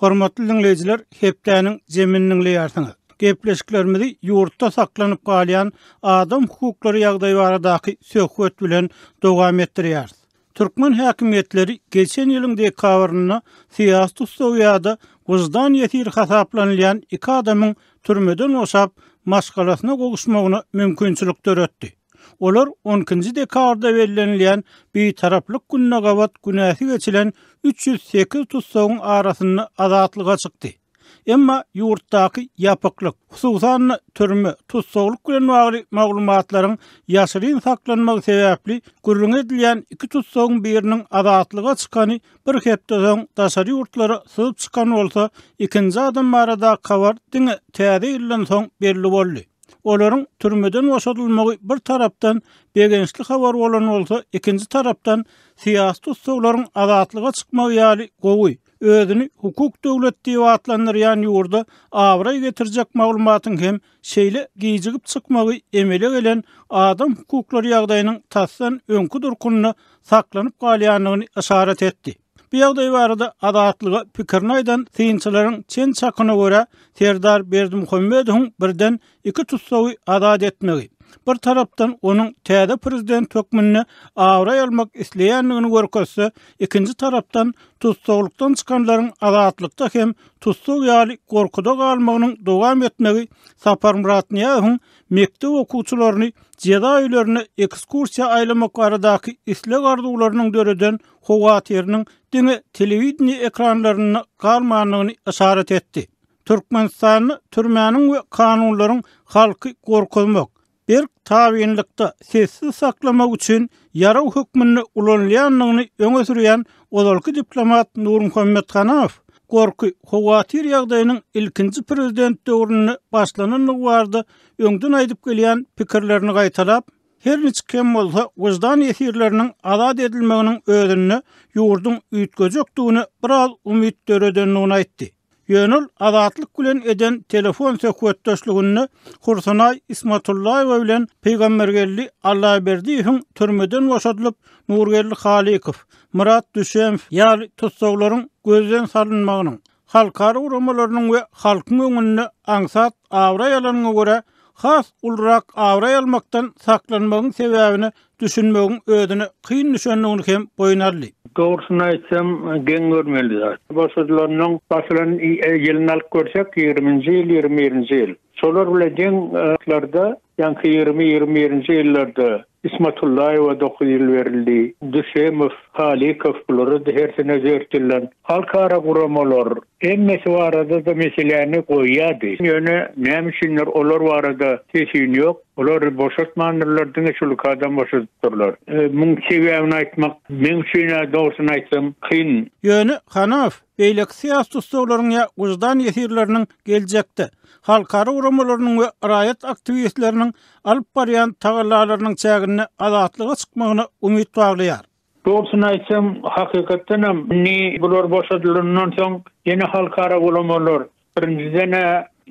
Hormatly dinleýjiler, hepdäniň jemini dinleýärsiňiz. Gepleşiklerimizi ýurtda saklanyp galýan adam hukuklary ýagdaýy baradaky söhbet bilen dowam etdirýäris. Türkmen häkimiýetleri geçen ýylyň dekabrynda syýasy tussagy ýa-da wyždan ýesiri hasaplanylýan iki adamyň türmeden boşap, maşgalasyna gowuşmagyna mümkinçilik döretdi. Olar on ikinji dekabrda bellenilýän Bitaraplyk gününe gabat günäsi geçilen üç ýüz sekiz tussagyň arasynda azatlyga çykdy. Emma ýurtdaky ýapyklyk, hususan-da, türme, tussaglyk bilen bagly maglumatlaryň ýaşyryn saklanmagy sebäpli, gürrüňi edilýän iki tussagyň biriniň azatlyga çykany bir hepde soň daşary ýurtlara syzyp çykan bolsa, ikinji adam baradaky habar diňe Täze ýyldan soň belli boldy. Olaryň türmeden boşadylmagy bir tarapdan begençli habar bolan bolsa, ikinji tarapdan syýasy tussaglaryň azatlyga çykmagy ýaly gowy, Özüni hukuk döwlet diýip atlandyrýan ýurda abraý getirjek maglumatyň hem şeýle gijigip çykmagy emele gelen adam hukuklary ýagdaýynyň tasdan öňki durkunda saklanyp galýandygyny yşarat etdi. Bu ýagdaý barada Azatlyga pikirini aýdan synçylaryň çen-çakyna görä, Serdar Berdimuhamedowyň birden iki tussagy azat etmegi, bir tarapdan onuň täze prezident hökmünde abraý almak isleýändigini görkezse, ikinji tarapdan tussaglykdan çykanlaryň azatlykda hem tussag ýaly gorkuda galmagynyň dowam etmegi Saparmyrat Nyýazowyň mekdep okuwçylaryny jeza öýlerine ekskursiýa aýlamak baradaky isleg-arzuwlarynyň döreden howatyrynyň diňe telewideniýe ekranlarynda galmandygyny yşarat etdi. Türkmenistanda türmäniň we kanunlaryň halky gorkuzmak, berk tabynlykda sessiz saklamak üçin ýarag hökmünde ulanylýandygyny öňe sürýän ozalky diplomat Nurmuhammet Hanaow, gorky, howatyr ýagdaýynyň ilkinji prezident döwründe başlanandygy barada öňden aýdyp gelýän pikirlerini gaýtalap, her niçik hem bolsa wyždan ýesirleriniň azat edilmeginiň özünde ýurduň üýtgejekdigine biraz umyt döredendigini aýtdy. Ýöne ol Azatlyk bilen eden telefon söhbetdeşliginde Hursunaý Ismatullaýewa bilen Pygambergeldi Allaberdiýewiň türmeden boşadylyp, Nurgeldi Halykow, Myrat Düşemow ýaly tussaglaryň gözden salynmagynyň, halkara guramalarynyň we halkyň öňünde aňsat abraý alanyňa görä, has ulurak abraý almakdan saklanmagyň sebäbine düşünmegiň özüne kyn düşendigini hem boýun aldy. Dogrusyny aýtsam, geň görmeli zat. Basyjylarynyň basylan ýylyny alyp görsek, ýigriminji ýyl, ýigrimi birinji ýyl. Şolar bilen deň wagtlarda, ýaňky ýigrimi, ýigrimi birinji ýyllarda Ismatullaýewa dokuz ýyl berildi. Düsemow, Halykow bulara-da hersine dört ýyldan. Halkara guramalar hemmesi barada-da meseläni goýýardy. Ýöne näme üçindir olar barada ses-üýn ýok. Olary boşatmandyrlar, diňe şu lukadam boşadypdyrlar. Muň sebäbini aýtmak meň üçin-ä dogrusyny aýtsam kyn. Ýöne, Hanow, beýleki syýasy tussaglaryň ýa wyždan ýesirleriniň geljekde halkara guramalarynyň we raýat aktiwistleriniň alyp barýan tagallalarynyň çäginde azatlyga çykmagyna umyt baglaýar. Dogrusyny aýtsam, hakykatdan hem, indi bular boşadylandan soň, ýene halkara gulamalar, birinjiden-ä,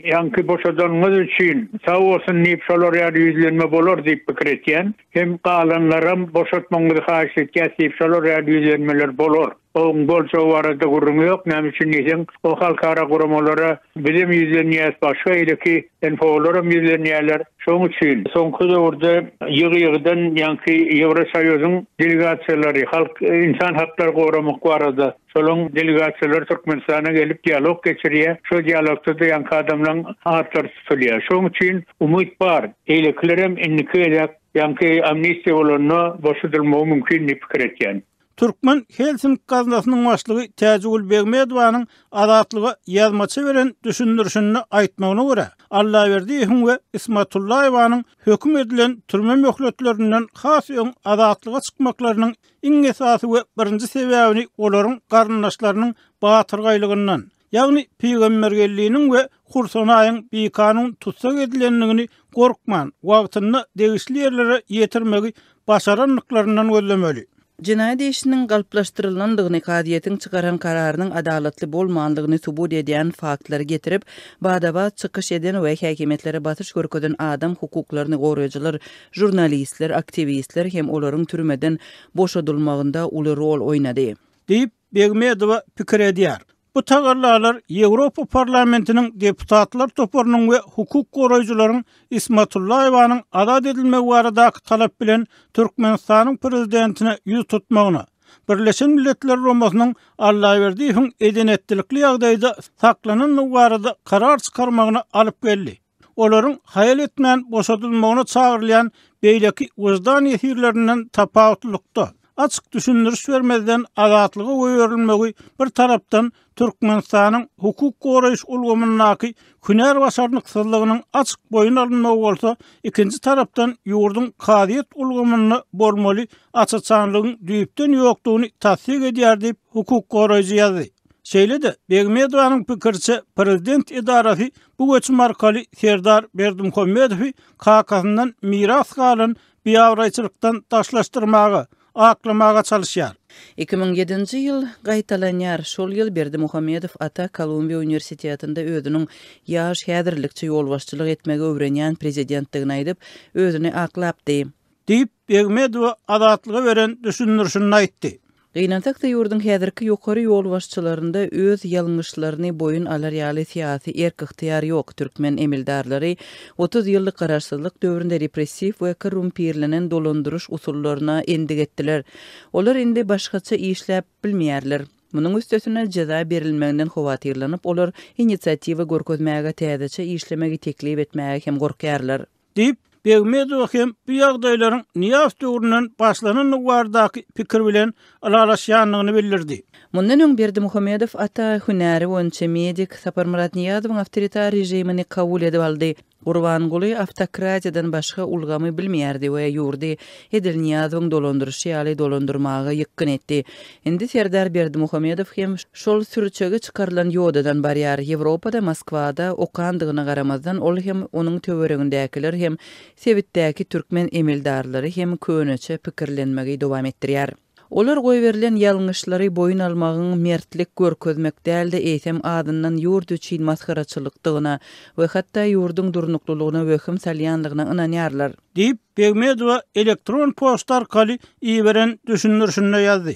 ýaňky boşadanyňyz üçin sag bolsun diýip, şolar ýaly ýüzlenme bolar diýip pikir etýän. Hem galanlaram boşatmagyňyzy haýyş etýäs diýip, şolar ýaly ýüzlenmeler bolar. Oň boljagy barada gürrüň ýok, näme üçin diýseň, o halkara guramalara bizem ýüzlenýäs, başga ileki NHO-laram ýüzlenýärler. Şoň üçin soňky döwürde ýygy-ýygydan ýaňky Ýewrosoýuzyň delegasiýalary, halk, ynsan haklary goramak barada şolaň delegasiýalary Türkmenistana gelip dialog geçirýär. Şo dialogda-da ýaňky adamlaň atlary tutulýar. Şoň üçin umyt bar. Beýlekilerem indiki gezek ýaňky amnistiýa bolanda boşadylmagy mümkin diýip pikir etýän. Türkmen Helsing gaznasynyň başlygy Täjigül Begmedowanyň Azatlyga ýazmaça beren düşündirişinde aýtmagyna görä, Allaberdiýewiň we Ismatullaýewanyň höküm edilen türme möhletlerinden has öň azatlyga çykmaklarynyň iň esasy we birinji sebäbini olaryň garyndaşlarynyň batyrgaýlygyndan, Ýagny Pygambergelliniň we Hursanaýyň bikanun tussag edilendigini gorkman, wagtynda degişli ýerlere ýetirmegi başarandyklaryndan gözlemeli. Jenaýat işiniň galplaşdyrylandygyny, kazyýetiň çykaran kararynyň adalatly bolmandygyny subut edýän faktlary getirip, bada-bat çykyş eden we häkimiýetlere basyş görkezen adam hukuklaryny goraýjylar, žurnalistler, aktiwistler hem olaryň türmeden boşadylmagynda uly rol oýnady. Diýip, Begmedowa pikir edýär. Bu tagallalar Ýewropa Parlamentiniň deputatlar toparynyň we hukuk goraýjylaryň Ismatullaýewanyň azat edilmegi baradaky talap bilen Türkmenistanyň prezidentine ýüz tutmagyna, Birleşen Milletler Romasynyň Allaberdiýewiň eden-etdilikli ýagdaýda saklanandygy barada karar çykarmagyna alyp geldi. olaryň haýal etmän boşadylmagyna çagyrylýan beýleki wyždan ýesirlerinden tapawutlylykda, açyk düşündiriş bermezden azatlyga goýberilmegi bir tarapdan Türkmenistanyň hukuk goraýyş ulgamyndaky hünär başarnyksyzlygynyň açyk boýun alynmagy bolsa, ikinji tarapdan ýurduň kazyýet ulgamynda bolmaly aç-açanlygyň düýpden ýokdugyny tassyk edýär diýip, hukuk goraýjy ýazdy. Şeýle-de, Begmedowanyň pikiriçe, prezident edarasy bu göçüm arkaly Serdar Berdimuhamedowy kakasyndan miras galan biabraýçylykdan daşlaşdyrmaga, aklamaga çalyşýar. Iki müň ýedinji ýyl gaýtalanýar. Şol ýyl Berdimuhamedow ata Kolumbiýa uniwersitetinde özüniň ýaş häzirlikçe ýolbaşçylyk etmegi öwrenýän prezidentdigini aýdyp, özüni aklapdy. diýip, Begmedowa Azatlyga beren düşündirişinde aýtdy. Gynansak-da ýurduň häzirki ýokary ýolbaşçylarynda öz ýalňyşlaryny boýun alar ýaly syýasy erk-ygtyýar ýok. Türkmen emeldarlary otuz ýyllyk garaşsyzlyk döwründe repressiw we korrumpirlenen dolandyryş usullaryna endik etdiler. Olar indi başgaça işläp bilmeýärler. Munuň üstesine jeza berilmeginden howatyrlanyp olar inisiatiwa görkezmäge, täzeçe işlemegi teklip etmäge hem gorkýarlar. Diýip, Begmedowa hem bu ýagdaýlaryň Nyýaz döwründen başlanandygy baradaky pikir bilen ylalaşýandygyny bildirdi. Mundan öň Berdimuhamedow ata hünäri boýunça medik Saparmyrat Nyýazowyň awtoritar režimini kabul edip aldy. Gurbanguly awtokratiýadan başga ulgamy bilmeýärdi we ýurdy edil Nyýazowyň dolandyryşy ýaly dolandyrmaga ýykgyn etdi. Indi Serdar Berdimuhamedow hem şol sürçege çykarylan ýodadan barýar. Ýewropada, Moskwada okandygyna garamazdan, ol hem, onuň töweregindäkiler hem, sebitdäki türkmen emeldarlary hem köneçe pikirlenmegi dowam etdirýär. Olar goýberilen ýalňyşlary boýun almagyň mertlik görkezmek däl-de, eýsem, azyndan ýurt üçin masgaraçylykdygyna we hatda ýurduň durnuklylygyna wehim salýanlygyna ynanýarlar. Diýip, Begmedowa elektron poçta arkaly iberen düşündirişinde ýazdy.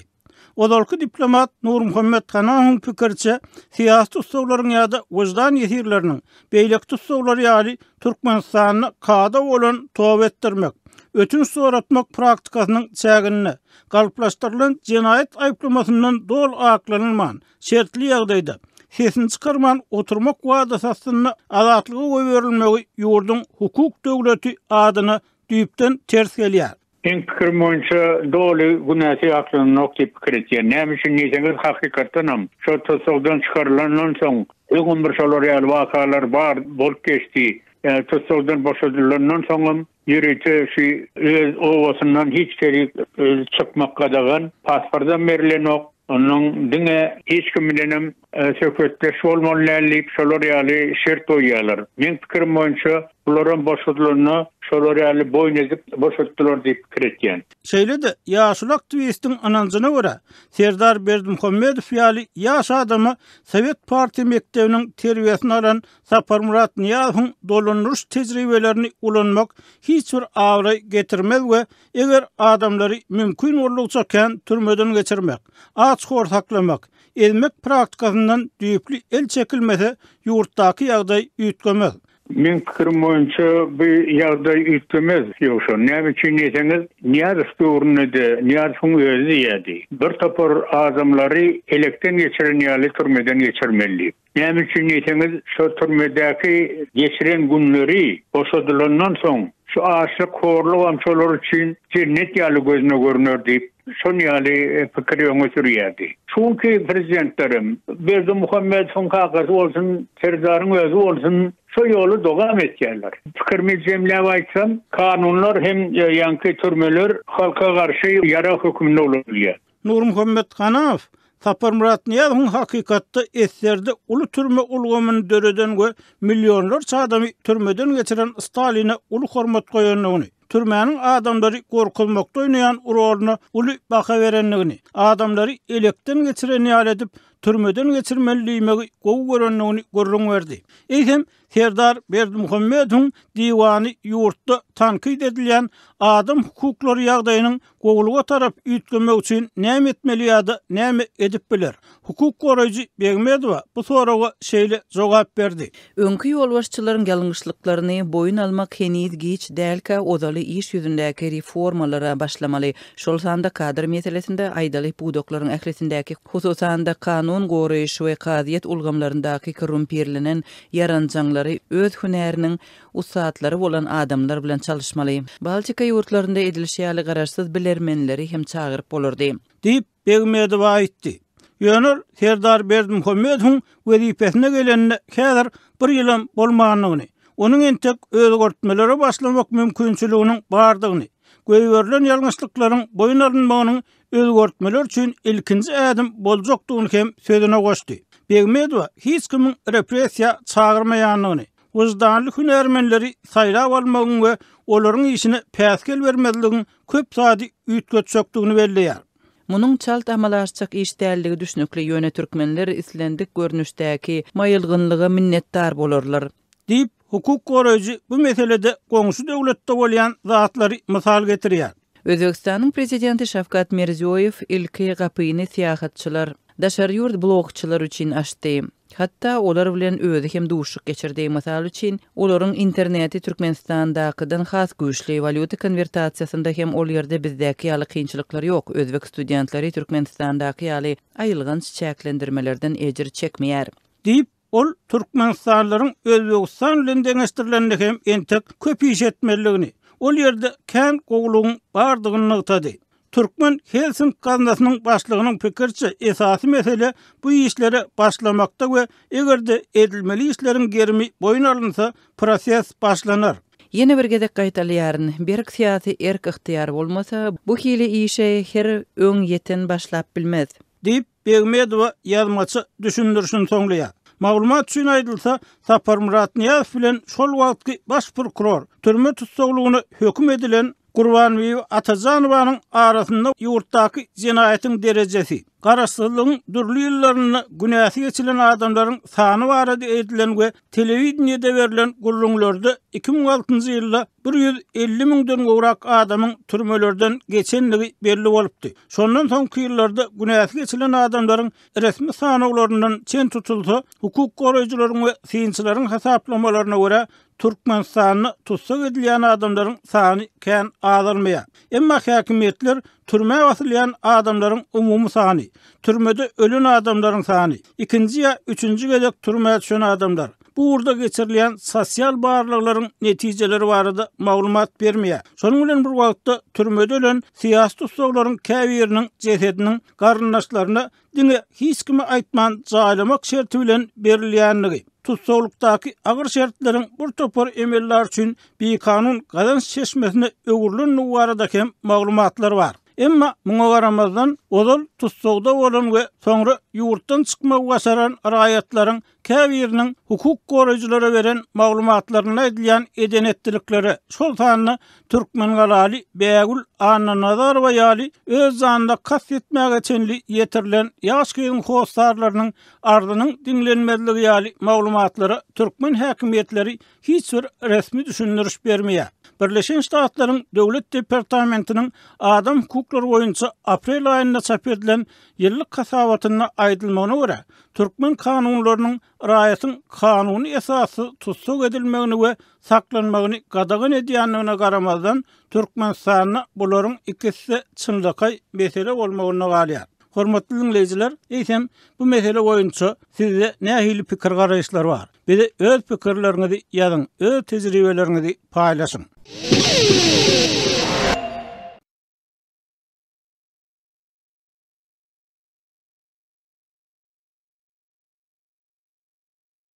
Ozalky diplomat Nurmuhammet Hanahoň pikiriçe, syýasy tussaglaryň ýa-da wyždan ýesirleriniň beýleki tussaglar ýaly Türkmenistanda kada bolan toba etdirmek, ötünç soratmak praktikasynyň çäginde, galplaşdyrylan jenaýat aýyplamasyndan doly aklanylman, Şertli ýagdaýda, sesini çykarman oturmak wadasy astynda azatlyga goýberilmegi ýurduň hukuk döwleti adyna düýpden ters gelýär. Meň pikirim boýunça doly günäsi ýatlananok diýip pikir etýän. Näme üçin diýseňiz, hakykatdan hem, şol tussagdan çykarylandan soň, öňem bir şolar ýaly wakalar bar, bolup geçdi. Tussagdan boşadylandan soňam, Ýörite şu öz obasyndan hiç kerik özi çykmak gadagan, pasportam berilenok. Onnoň diňe hiç kim bilenem söhbetdeş bolmaly däl diýip şolar ýaly şert goýýarlar. Meň pikirim boýunça bularam boşadylanda şolar ýaly boýun edip boşatdylar diýip pikir etýän. Şeýle-de ýaşuly aktiwistiň ynanjyna görä, Serdar Berdimuhamedow ýaly ýaş adama Sowet partiýa mekdebiniň terbiýesini alan Saparmyrat Nyýazowyň dolandyryş tejribelerini ulanmak hiç bir abraý getirmez we eger adamlary mümkin boldugyça kän türmeden geçirmek, aç-hor saklamak, ezmek praktikasyndan düýpli el çekilmese, ýurtdaky ýagdaý üýtgemez. Meň pikirim boýunça bu ýagdaý üýtgemez. Ýogsa, näme üçin diýseňiz, Nyýazow döwründe-de Nyýazowyň özi diýýärdi, Bir topar adamlary elekden geçiren ýaly türmeden geçirmeli diýip. Näme üçin diýseňiz, şo türmedäki geçiren günleri, boşadylandan soň, şu açlyk, horlugam şolar üçin jennet ýaly gözüne görüner diýip, şon ýaly pikiri öňe sürýärdi. Çünki prezidentlerem, Berdimuhamedowyň kakasy bolsun, Serdaryň özi bolsun, şo ýoly dogam etýärler. Pikirimi jemläp aýtsam, kanunlar hem ýaňky türmeler halka garşy ýarag hökmünde ulanylýar. Nurmuhammet Ganaow, Saparmyrat Nyýazowyň hakykatda SSR-de uly türme ulgamyny döreden we millionlarça adamy türmeden geçiren Staline uly hormat goýandygyny, türmäniň adamlary gorkuzmakda oýnaýan roluny uly baha berendigini, adamlary elekden geçiren ýaly edip türmeden geçirmeli diýmegi gowy görendigini gürrüň berdi. Eýsem, Serdar Berdimuhamedowyň diwany ýurtda tankyt edilýän adam hukuklary ýagdaýynyň gowulyga tarap üýtgemegi üçin näme etmeli ýa-da näme edip biler? Hukuk goraýjy Begmedowa bu soraga şeýle jogap berdi. Öňki ýolbaşçylaryň ýalňyşlyklaryny boýun almak heniz giç dälkä ozaly iş ýüzündäki reformalara başlamaly. şol sanda kadr meselesinde aýdaly pudaklaryň ählisindäki, hususan-da, kanun goraýyş we kazyýet ulgamlaryndaky korrumpirlenen ýaranjaňlary öz hünäriniň ussatlary bolan adamlar bilen çalyşmaly. Baltika ýurtlarynda edilişi ýaly garaşsyz bilermenleri hem çagyryp bolardy. Diýip, Begmedowa aýtdy. Ýöne ol Serdar Berdimuhamedowyň wezipesine gelenine häzir bir ýylam bolmandygyny, onuň entek özgertmelere başlamak mümkinçiliginiň bardygyny, Goýberilen ýalňyşlyklaryň boýun alynmagynyň özgertmeler üçin ilkinji ädim boljakdygyny hem sözüne goşdy. Begmedowa hiç kimiň repressiýa çagyrmaýandygyny, wyždanly hünärmenleri saýlap almagyň we olaryň işine päsgel bermezligiň köp zady üýtgetjekdigini belleýär. Munuň çalt amala aşjak iş däldigi düşnükli, ýöne türkmenler islendik görnüşdäki maýylgynlyga minnetdar bolarlar. Diýip, hukuk goraýjy bu meselede goňşy döwletde bolýan zatlary mysal getirýär. Özbegistanyň prezidenti Şawkat Mirziýoýew ilki gapyny syýahatçylar, daşary ýurt blogçylary üçin açdy. Hatda olar bilen özi hem duşuşyk geçirdi. Mysal üçin, olaryň interneti Türkmenistandakydan has güýçli. Walýuta konwertasiýasynda hem ol ýerde bizdäki ýaly kynçylyklar ýok. Özbek studentleri Türkmenistandaky ýaly aýylganç çäklendirmelerden ejir çekmeýär. Diýip, Ol türkmenistanlylaryň Özbegistan bilen deňeşdirilende hem entek köp iş etmelidigini, ol ýerde kän gowulygyň bardygyny nygtady. Türkmen Helsink gaznasynyň başlygynyň pikiriçe, esasy mesele bu işlere başlamakda we eger-de edilmeli işleriň gerimi boýun alynsa, proses başlanar. Ýene bir gezek gaýtalýaryn, berk syýasy erk-ygtyýar bolmasa, bu hili işe her öň ýeten başlap bilmez. Diýip, Begmedowa ýazmaça düşündirişini soňlaýar. Maglumat üçin aýdylsa, Saparmyrat Nyýazow bilen şol wagtky baş prokuror, türme tussaglygyna höküm edilen Gurbanbibi Atajanowanyň arasynda ýurtdaky jenaýatyň derejesi, garaşsyzlygyň dürli ýyllarynda günäsi geçilen adamlaryň sany barada edilen we telewideniýede berlen gürrüňlerde iki müň altynjy ýylda bir ýüz elli müňden gowrak adamyň türmelerden geçendigi belli bolupdy. Şondan soňky ýyllarda günäsi geçilen adamlaryň resmi sanawlaryndan çen tutulsa, hukuk goraýjylaryň we synçylaryň hasaplamalaryna görä, Türkmenistanda tussag edilýän adamlaryň sany kän azalmaýar. Emma häkimiýetler Türmä basylýan adamlaryň umumy sany, türmede ölen adamlaryň sany, ikinji ýa üçünji gezek türmä düşen adamlar. Bu ugurda geçirilýän sosial barlaglaryň netijeleri barada maglumat bermeýär. Şonuň bilen bir wagtda, türmede ölen syýasy tussaglaryň käbiriniň jesediniň garyndaşlaryna diňe hiç kime aýtman jaýlamak şerti bilen berilýändigi, tussaglykdaky agyr şertleriň bir topar emellar üçin bikanun gazanç çeşmesine öwrülendigi barada hem maglumatlar bar. Emma muňa garamazdan, ozal tussagda bolan we soňra ýurtdan çykmagy başaran raýatlaryň käbiriniň hukuk goraýjylara beren maglumatlarynda aýdylýan eden-etdiliklere, şol sanda türkmengalaly Bägül Annanazarowa ýaly öz janyna kast etmäge çenli ýetirilen ýaş gyzyň hossarlarynyň arzynyň diňlenmezligi ýaly maglumatlara türkmen häkimiýetleri hiç bir resmi düşündiriş bermeýär. Birleşen Ştatlaryň Döwlet departamentiniň adam hukuklary boýunça aprel aýynda çap edilen ýyllyk hasabatynda aýdylmagyna görä, türkmen kanunlarynyň raýatyň kanuny esassyz tussag edilmegini we saklanmagyny gadagan edýändigine garamazdan, Türkmenistanda bularyň ikisi-de çynlakaý mesele bolmagynda galýar. Hormatly diňleýjiler, eýsem, bu mesele boýunça sizde nähili pikir-garaýyşlar bar? Bize öz pikirleriňizi ýazyň, öz tejribeleriňizi paýlaşyň.